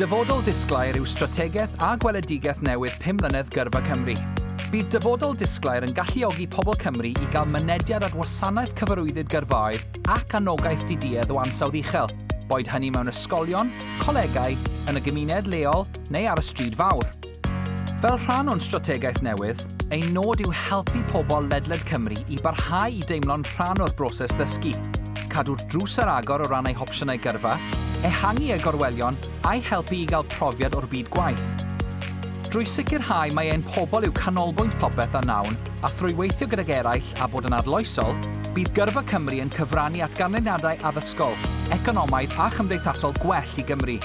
Dyfodol Disglair yw strategaeth a gweledigaeth newydd 5 mlynedd Gyrfa Cymru. Bydd Dyfodol Disglair yn galluogi pobl Cymru i gael mynediad at wasanaeth cyfarwyddyd gyrfaoedd ac anogaeth diduedd o ansawdd uchel, boed hynny mewn ysgolion, colegau, yn y gymuned leol neu ar y stryd fawr. Fel rhan o'n strategaeth newydd, ein nod yw helpu pobl ledled Cymru i barhau i deimlo'n rhan o'r broses ddysgu, cadw'r drws ar agor o ran eu hopsiynau gyrfa, ehangu eu gorwelion a'u helpu i gael profiad o'r byd gwaith. Drwy sicrhau mai ein pobl yw canolbwynt popeth a wnawn a thrwy weithio gydag eraill a bod yn arloesol, bydd Gyrfa Cymru yn cyfrannu at ganlyniadau addysgol, economaidd a chymdeithasol gwell i Gymru.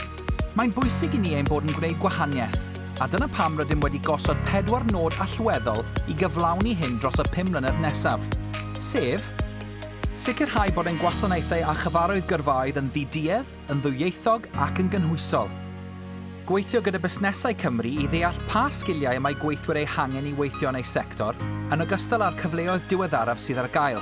Mae'n bwysig i ni ein bod yn gwneud gwahaniaeth, a dyna pam rydym wedi gosod pedwar nod allweddol i gyflawni hyn dros y pum mlynedd nesaf, sef, Sicrhau bod ein gwasanaethau a chyfarwydd gyrfaoedd yn ddiduedd, yn ddwyieithog ac yn gynhwysol. Gweithio gyda busnesau Cymru i ddeall pa sgiliau y mae gweithwyr eu hangen i weithio yn eu sector, yn ogystal â'r cyfleoedd diweddaraf sydd ar gael.